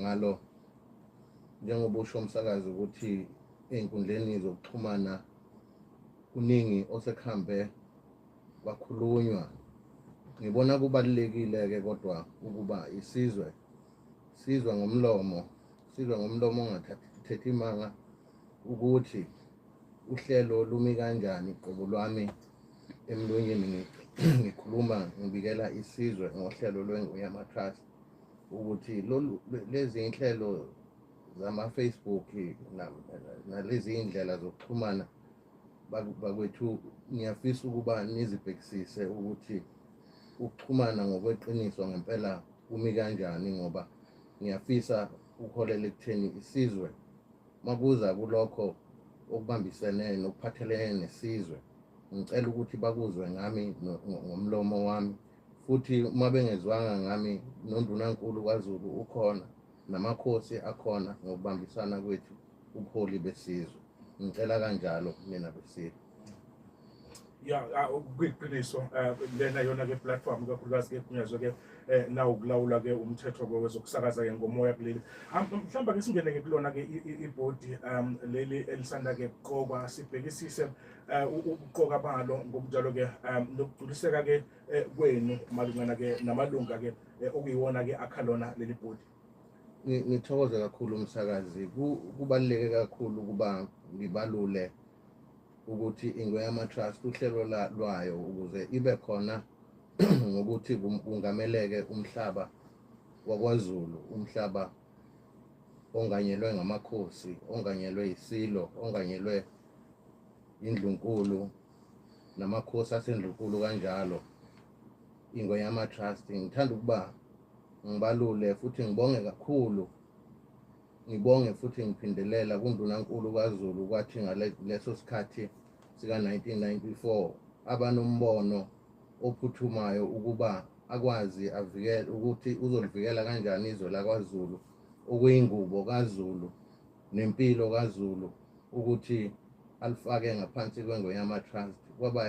ngalo njengoba usho umsakazi ukuthi ey'nkundleni zokuxhumana kuningi osekuhambe kwakhulunywa ngibona kubalulekile-ke kodwa ukuba isizwe sizwe ngomlomo sizwe ngomlomo ongathathi imanga ukuthi uhlelo lumi kanjani qobo lwami emlonyeni ngikhuluma ngibikela isizwe ngohlelo lwenguya matrust ukuthi lolu le- lezi inhlelo zama-facebook na- nalezi iy'ndlela zokuxhumana baku- bakwethu ngiyafisa ukuba nizibhekisise ukuthi ukuxhumana ngokweqiniso ngempela kumi kanjani ngoba ngiyafisa ukuholela ekutheni isizwe makuza kulokho okubambisene nokuphathelene nesizwe ngicela ukuthi bakuzwe ngami no- ngo- ngomlomo wami futhi uma bengezwanga ngami nondunankulu kwaZulu ukhona namakhosi akhona ngokubambisana kwethu ubuholi besizwe ngicela kanjalo mina besizwe ya ah, kuyiqiniso eh, lena yona ke platform kakhulukazi ke kunyazwe ke eh, nawo kulawula ke umthetho ke wezokusakaza ke ngomoya kuleli ah, mhlawumbe ke singene ke kulona ke ibhodi um leli elisanda ke kuqokwa sibhekisise Eh, ukuqoka balo ngokunjalo ke um nokugculiseka ke eh, kwenu malungana ke namalunga ke eh, okuyiwona ke akhalona leli bhodi ngithokoza kakhulu umsakazi kubaluleke kakhulu ukuba ngibalule ukuthi ingweyama trust uhlelo lwayo ukuze ibe khona ngokuthi kungameleke umhlaba wakwazulu umhlaba onganyelwe ngamakhosi onganyelwe isilo onganyelwe indlunkulu namakhosi asendlunkulu kanjalo ingwenyama trust ngithanda ukuba ngibalule futhi ngibonge kakhulu ngibonge futhi ngiphindelela kundunankulu kwazulu kwathi ngaleso sikhathi sika-1994 abanombono ophuthumayo ukuba akwazi avikele ukuthi uzolivikela kanjani izwe lakwaZulu okuyingubo kaZulu nempilo kaZulu ukuthi alifake ngaphansi kwengoyama trust kwaba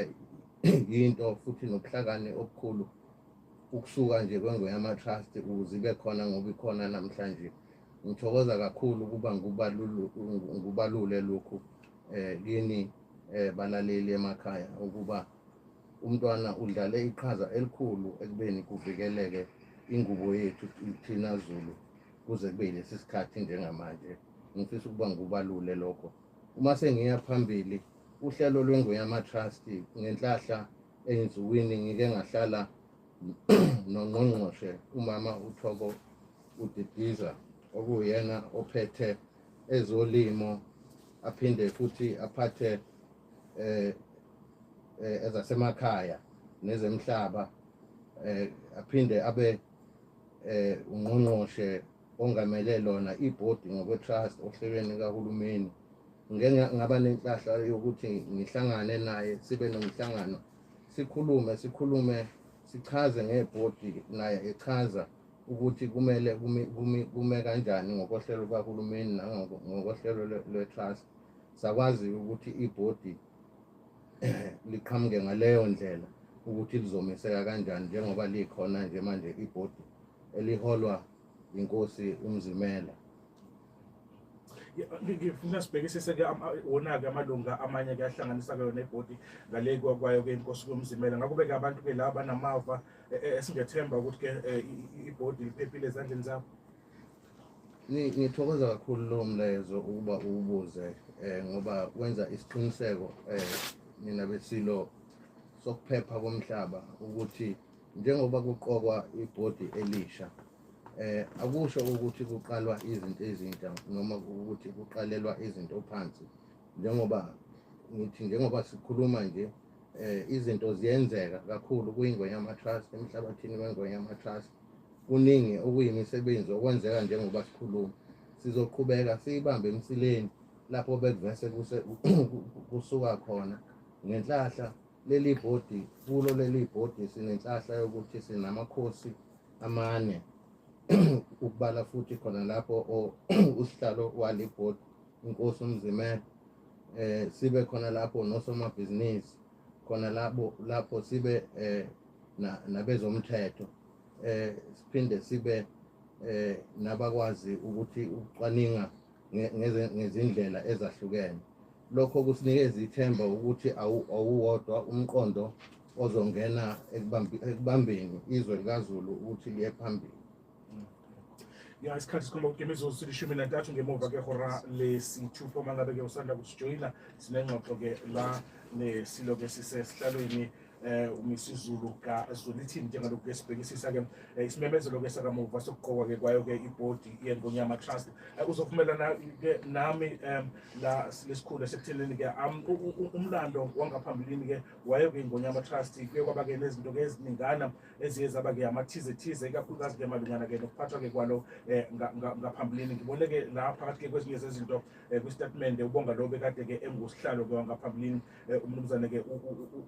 yinto futhi nobuhlakani obukhulu ukusuka nje kwengoyama trust ukuze ibe khona ngoba ikhona namhlanje ngithokoza kakhulu ukuba ngubalule lokhu um kini um balaleli emakhaya ukuba umntwana udlale iqhaza elikhulu ekubeni kuvikeleke ingubo yethu thina Zulu kuze kube lesi sikhathi njengamanje ngifisa ukuba ngubalule lokho uma sengiya phambili uhlelo lwengoyama trust ngenhlahla engizuwini ngike ngahlala nongqongqoshe umama uthoko udidiza okuyena ophethe ezolimo aphinde futhi aphathe eh, eh ezasemakhaya nezemhlaba eh aphinde abe eh ungqongqoshe ongamele lona ibhodi ngokwetrust ohlelweni kahulumeni ngeke ngaba nenhlahla yokuthi ngihlangane naye sibe nomhlangano sikhulume sikhulume sichaze ngebhodi naye echaza ukuthi kumele kumi, kumi, kume kanjani ngokohlelo lukahulumeni nangokohlelo lwe-trust sakwazi ukuthi ibhodi liqhamuke ngaleyo ndlela ukuthi lizomeseka kanjani njengoba likhona nje manje ibhodi eliholwa inkosi umzimela ngifuna sibhekisise-ke wona-ke amalunga amanye-ke ahlanganisa-ke yona ibhodi ngale kwayo-ke inkosi komzimela ngakho-ke abantu-ke la banamava esingethemba ukuthi ke eh, ibhodi liphephile ezandleni zakho ngithokoza kakhulu lowo mlayezo ukuba uwubuze um ngoba wenza isiqiniseko um nina besilo sokuphepha komhlaba ukuthi njengoba kuqokwa ibhodi elisha eh akusho ukuthi kuqalwa izinto ezintsha noma ukuthi kuqalelwa izinto phansi njengoba ngithi njengoba sikhuluma nje eh izinto ziyenzeka kakhulu kuyingonyama trust emhlabathini wengonyama trust kuningi okuyimisebenzi okwenzeka njengoba sikhuluma sizoqhubeka siyibambe emsileni lapho bekuvese kusuka khona ngenhlahla leli bhodi kulo leli bhodi sinenhlahla yokuthi sinamakhosi amane ukubala futhi khona lapho usihlalo wale bhodi inkosi umzimela eh sibe khona lapho nosomabhizinisi khona lapho lapho sibe eh nabezomthetho eh siphinde sibe eh nabakwazi ukuthi ucwaninga ngezindlela ezahlukene lokho kusinikeza ithemba ukuthi awuwodwa umqondo ozongena ekubambeni izwe likaZulu ukuthi liye phambili ya isikhathi sikhomba ukuthi imizuzu silishumi nantathu ngemuva kwehora lesithupha uma ngabe-ke usanda kusijoyina sinengxoxo-ke la nesilo-ke sisesihlalweni eh umisizulu kaZwelithini njengalokhu ke sibhekisisa ke eh, isimemezelo ke sakamuva sokuqokwa ke kwayo ke ibhodi yeNgonyama Trust eh, uzovumelana ke nami em la lesikhulu esekutheleni ke umlando wangaphambilini ke wayo ke iNgonyama Trust kuye kwaba ke nezinto ke eziningana eziye zaba-ke amathize thize ikakhulukazi-ke malungana-ke nokuphathwa-ke kwalo um ngaphambilini ngibone-ke la phakathi-ke kwezinye zezinto um kwisitatimende ubonga lo bekade-ke engusihlalo-ke wangaphambilini um umnumzane-ke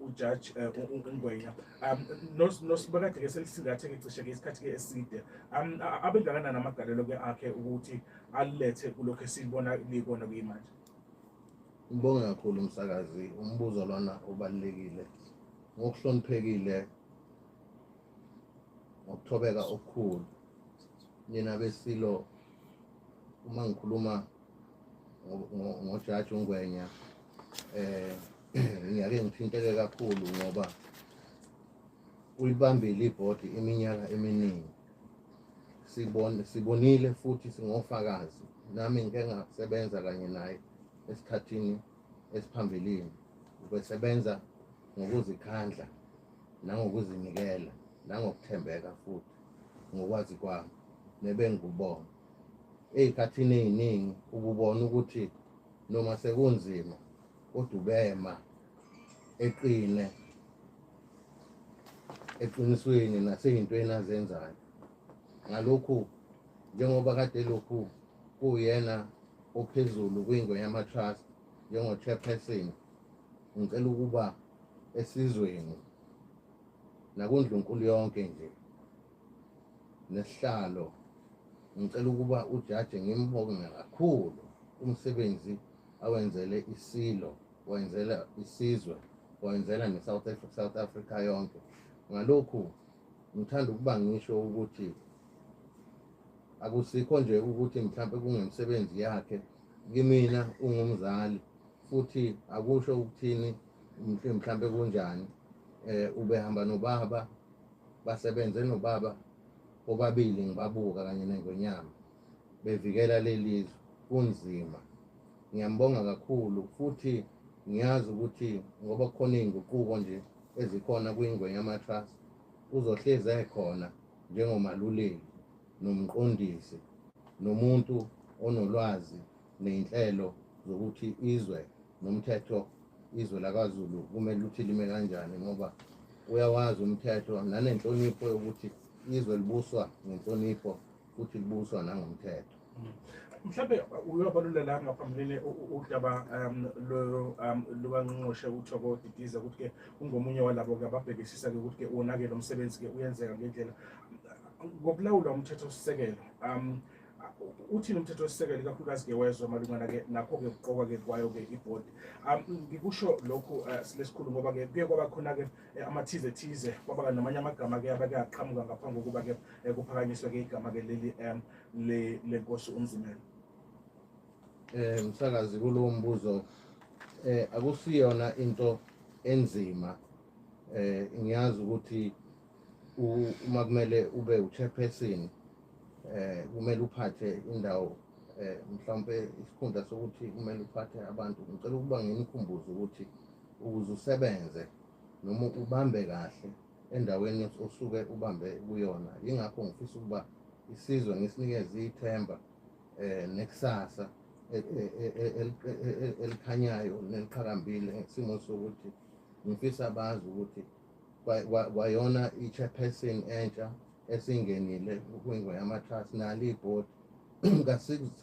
ujaji um ungwenya um nosibekade-ke selisingathe-ke cishe-ke isikhathi-ke eside um abengakanani amagalelo-ke akhe ukuthi alethe kulokhu esibona likona kuyimanje ngibonge kakhulu umsakazi umbuzo lona ubalulekile ngokuhloniphekile ngokuthobeka okukhulu nina besilo uma ngikhuluma ngojaji ungwenya eh ngiyake ngithinteke kakhulu ngoba uyibambile ibhodi iminyaka eminingi sibone sibonile futhi singofakazi nami ngike ngasebenza kanye naye esikhathini esiphambilini ubesebenza ngokuzikhandla nangokuzinikela nangokuthembeka futhi ngokwazi kwami nebengikubona ey'khathini ey'ningi ukubona ukuthi noma sekunzima kodwa ubema eqine eqinisweni nasey'ntweni azenzayo ngalokhu njengoba kade lokhu kuwuyena ophezulu kwingwe yamatrust njengo-chairperson ngicela ukuba esizweni nakundlunkulu yonke nje nesihlalo ngicela ukuba ujaji ngimbonge kakhulu umsebenzi awenzele isilo wenzela isizwe wenzela ne-south africa, south africa yonke ngalokhu ngithanda ukuba ngisho ukuthi akusikho nje ukuthi mhlawumbe kungemisebenzi yakhe kimina ungumzali futhi akusho ukuthini mhlawumbe kunjani eh ubehamba nobaba basebenze nobaba obabili ngibabuka kanye nengonyama bevikela lelizwe kunzima ngiyambonga kakhulu futhi ngiyazi ukuthi ngoba kukhona izinguquko nje ezikhona kwingwenyama trust uzohlezi ekhona njengomaluleki nomqondisi nomuntu onolwazi ney'nhlelo zokuthi izwe nomthetho izwe lakwaZulu kumele ukuthi lime kanjani ngoba uyawazi umthetho nanenhlonipho yokuthi izwe libuswa ngenhlonipho futhi libuswa nangomthetho. mhlawumbe uyobalula la ngaphambilini udaba um, um lukanqonqoshe kuthiwa kodidiza ukuthi-ke ungomunye walabo-ke ababhekisisa-ke ukuthi-ke wonakele umsebenzi-ke uyenzeka ngendlela ngokulawulwa umthethosisekelo um uthini umthetho wesisekelo ikakhulukazi-ke wezwe malungana-ke nakho-ke kuqokwa-ke kwayo-ke ibhodi um ngikusho lokhu eh, silesikhulu ngoba-ke kuye kwaba khona-ke eh, amathize thize kwaba-ke namanye amagama-ke abake aqhamuka ngaphambi kokuba-ke eh, kuphakanyiswe-ke igama-ke leli um le lenkosi uNzimela eh msakazi kulowo mbuzo eh akusiyona into enzima eh ngiyazi ukuthi uma kumele ube uchairperson eh kumele uphathe indawo eh mhlawumbe isikhundla sokuthi kumele uphathe abantu ngicela ukuba nginikhumbuze ukuthi ukuze usebenze noma ubambe kahle endaweni osuke ubambe kuyona yingakho ngifisa ukuba isizwe ngisinikeze ithemba um nekusasa elikhanyayo neliqhakambile ngesimo sokuthi ngifisa bazi ukuthi kwayona i-chairperson entsha esingenile kwingo yamatrust nalo ibhodi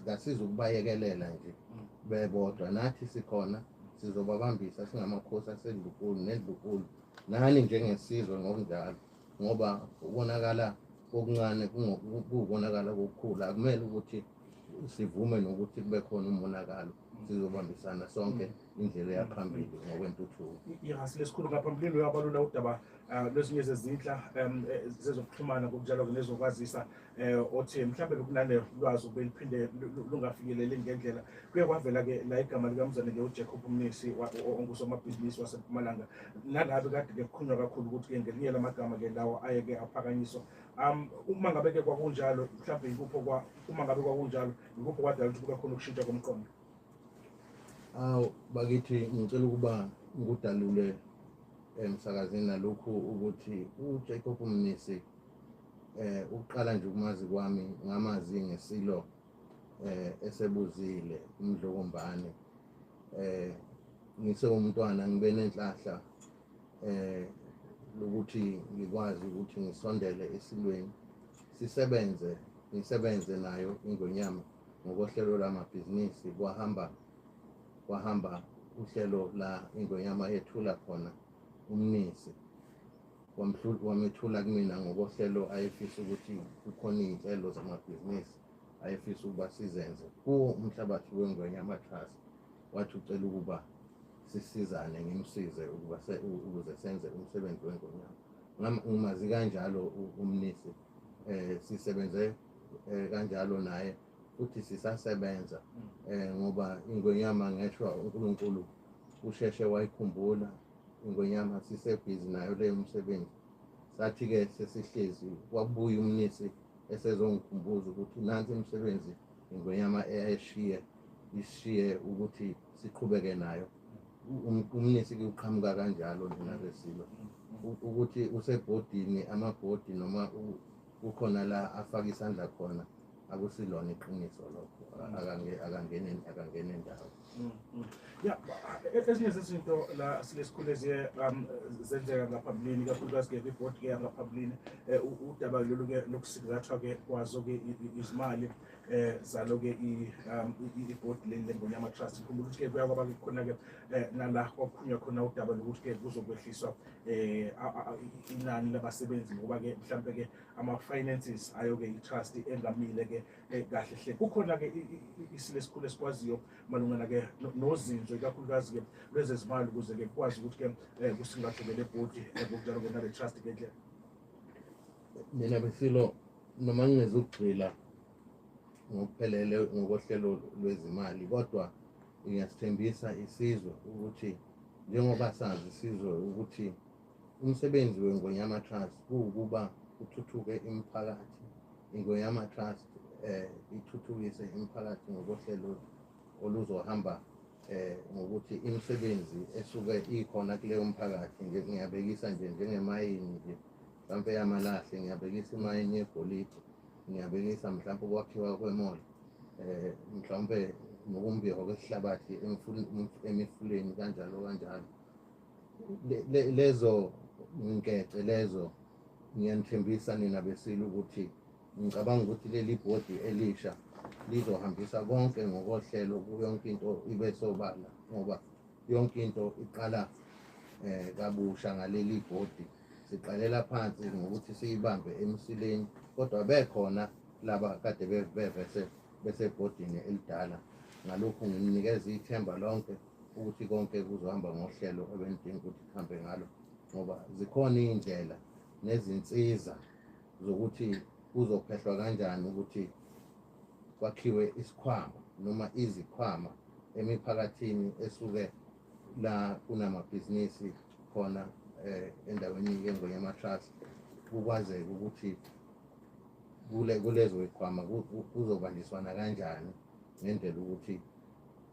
kasiza ukubayekelela nje mm. bebodwa nathi sikhona sizobabambisa singamakhosi asedlukulu nedlukulu nani njengesizwe ngokunjalo ngoba ukonakala kokuncane kuwukonakala kokukhulu akumele ukuthi sivume nokuthi kube khona umonakalo sizobambisana sonke mm. indlela yaphambili ngokwentuthuko yes lesikhulu ngaphambilini uyabalula udaba ah, lwezinye zezinhla um, eh, zezokuxhumana ngokunjalo-ke nezokwazisa eh othi mhlawumbe lokunale lwazi ubeliphinde lungafikeleli ngendlela kuye kwavela ke la igama likamzane ke uJacob Mnisi ongusomabhizinisi waseMpumalanga nalabe kade ke kukhulunywa kakhulu ukuthi ke ngelinye lamagama ke lawo aye ke aphakanyiswa um uma ngabe ke kwakunjalo mhlawumbe yikupho kwa uma ngabe kwakunjalo yikupho kwadala ukuthi kube khona ukushintsha komqondo awu bakithi ngicela ukuba ngikudalule emsakazini nalokhu ukuthi uJacob Mnisi eh ukuqala nje ukumazi kwami ngamazi ngesilo eh esebuzile umdlokombane eh ngise umntwana ngibe nenhlahla eh lokuthi ngikwazi ukuthi ngisondele esilweni sisebenze ngisebenze nayo ingonyama ngokohlelo lamabhizinisi kwahamba kwahamba uhlelo la ingonyama yethula khona umnisi wamethula kumina ngokohlelo ayefisa ukuthi kukhona iy'nhlelo zamabhizinisi ayefisa ukuba sizenze kuwo umhlabathi wengwenya amatrust wathi ucela ukuba sisizane ngimsize ukuba ukuze senze umsebenzi wengonyama ngimazi kanjalo umnisi um sisebenze um kanjalo naye futhi sisasebenza um ngoba ingonyama ngeshwa unkulunkulu usheshe wayikhumbula ingonyama sisebhizi nayo leyo msebenzi sathi-ke sesihlezi wabuya umnisi esezongikhumbuza ukuthi nansi imisebenzi ingonyama eyayishiye ishiye ukuthi siqhubeke nayo umnisi kuqhamuka kanjalo njenalesilo ukuthi usebhodini amabhodi noma kukhona la afaka isandla khona akusilona iqiniso lokho akangene akangene ndawo mm, mm. ya e, ezinye zezinto la sike sikhule ziye um, zenzeka ngaphambilini kakhulukazi-ke kwibhodi-ke yangaphambilini eh, udaba lolu-ke lokusingathwa-ke kwazo-ke izimali eh zalo ke i um, board leli lengonyama trust ngikhumbula ukuthi ke kuyakwaba ke khona ke eh, nala kwakuphunywa khona udaba lokuthi ke kuzokwehliswa eh inani labasebenzi ngoba ke mhlambe ke ama finances ayo ke itrust engamile ke eh, kahle hle kukhona ke isile sikhulu esikwaziyo malungana ke nozinzo ikakhulukazi ke lwezezimali ukuze ke kwazi ukuthi ke eh, kusingathekele body eh, ngokunjalo ke nale trust ke nje mina besilo noma ngizugxila ngokuphelele ngokohlelo lwezimali kodwa ngiyasithembisa isizwe ukuthi Njengoba sazi sizwe ukuthi umsebenzi weNgonyama Trust kuwukuba kuthuthuke imiphakathi. INgonyama Trust eh ithuthukise imiphakathi ngokohlelo oluzohamba eh ngokuthi imisebenzi esuke ikhona kuleyo mphakathi ngiyabekisa nje njengemayini nje mhlampe yamalahle ngiyabekisa imayini yegolide ngiyabilisa mhlawumbe ukwakhiwa kwemoli eh mhlawumbe nokumbiwa kwesihlabathi emifuleni kanjalo kanjalo lezo ngikece lezo ngiyanithembisa nina besile ukuthi ngicabanga ukuthi leli bhodi elisha lizohambisa konke ngokohlelo yonke into ibe sobala ngoba yonke into iqala um kabusha ngaleli bhodi siqalela phansi ngokuthi siyibambe emsileni kodwa bekhona laba kade bevese besebhodini elidala ngalokhu ngimnikeza ithemba lonke ukuthi konke kuzohamba ngohlelo ebendidinga ukuthi kuhambe ngalo ngoba zikhona iy'ndlela nezinsiza zokuthi kuzophehlwa kanjani ukuthi kwakhiwe isikhwama noma izikhwama emiphakathini esuke la kunamabhizinisi khona eh, endaweni yengonyama trust kukwazeka ukuthi kule kulezo ikhwama kuzobanjiswana kanjani ngendlela ukuthi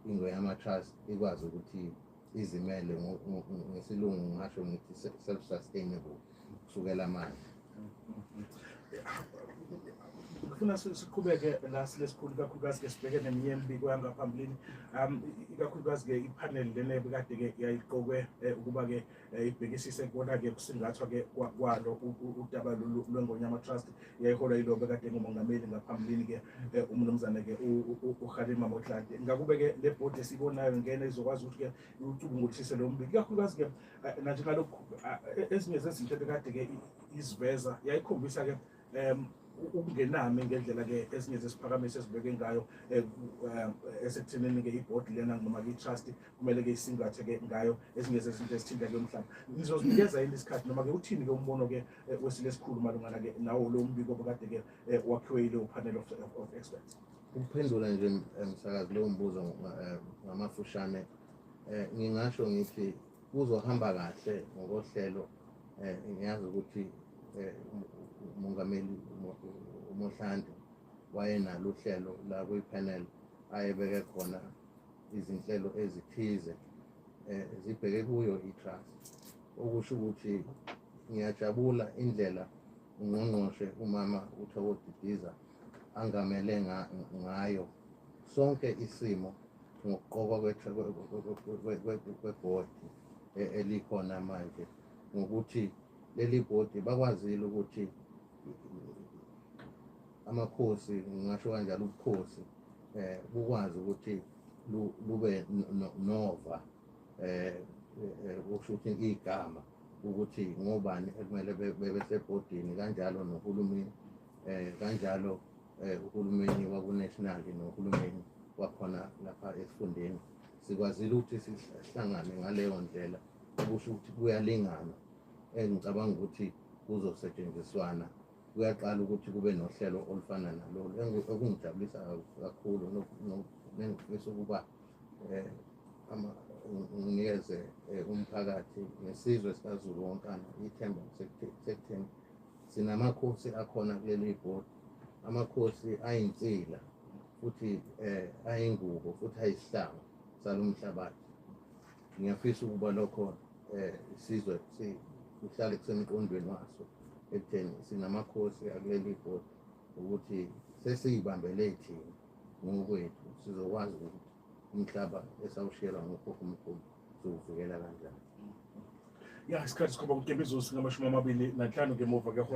ingonyama trust ikwazi ukuthi izimele ngesilungu ngasho ngithi self sustainable kusukela manje ngifuna siqhubeke la silesikhulu ikakhulukazi ke sibheke neminye emibiko yangaphambilini um ikakhulukazi ke iphaneli lena ebikade ke yayiqokwe eh, ukuba ke eh, ibhekisise kubona ke kusingathwa ke kwalo udaba lwengonyama trust yayiholwa yilo bekade ngumongameli ngaphambilini ke eh, umnumzane ke uhalima motlante ngakube ke le bhodi esibonayo ngena izokwazi ukuthi ke ucubunguthise lo mbili ikakhulukazi ke eh, nanje ngalokhu eh, ezinye zezinto ebekade ke iziveza yayikhombisa ke um ukungenami ngendlela ke ezinye zesiphakamiso esibeke ngayo eh, esekuthenini ke ibhodi lena noma i-trust kumele ke isingathe ke ngayo ezinye zezinto ezithinta ke umhlaba nizozinikeza yini isikhathi noma ke uthini ke umbono ke wesile esikhulu malungana ke nawo lo mbiko obekade ke wakhiwe yile panel of, of experts Ukuphendula nje eh, msakazi leyo mbuzo eh, ngamafushane eh, ngingasho ngithi kuzohamba kahle ngokohlelo ngiyazi ukuthi umongameli uMohlanti wayenalo uhlelo la kwi-panel ayebeke khona izinhlelo ezithize um zibheke kuyo i-trust okusho ukuthi ngiyajabula indlela ungqongqoshe umama uthoko didiza angamele ngayo sonke isimo ngokuqokwa kwebhodi e, elikhona manje ngokuthi leli bhodi bakwazile ukuthi amakhosi ngingasho kanjalo ubukhosi eh bukwazi ukuthi lube nova eh, eh kusho ukuthi igama ukuthi ngobani ekumele bebe sebhodini kanjalo nohulumeni eh kanjalo eh uhulumeni wakunational nohulumeni wakhona lapha esifundeni sikwazile ukuthi sihlangane ngaleyo ndlela okusho ukuthi kuyalingana engicabanga eh, ukuthi kuzosetshenziswana kuyaqala ukuthi kube nohlelo olufana nalolu okungijabulisa kakhulu nengifisa ukuba eh, nginikeze eh, umphakathi nesizwe sikaZulu wonkana ithemba sekutheni Sinamakhosi akhona kuleli bhodi, amakhosi ayinsila futhi eh, ayingubo futhi ayisihlanga salomhlabathi. Ngiyafisa ukuba lokho eh, isizwe sihlale kusemqondweni waso ekutheni sinamakhosi akuleli bhodi ukuthi sesiyibambele thina ngokwethu sizokwazi ukuthi umhlaba esawushiyelwa ngokhokho mkhulu zokuvikela kanjani ya isikhathi sikhomba ukuthi ebizosingamashumi amabili nanhlanu ngemuva kwehora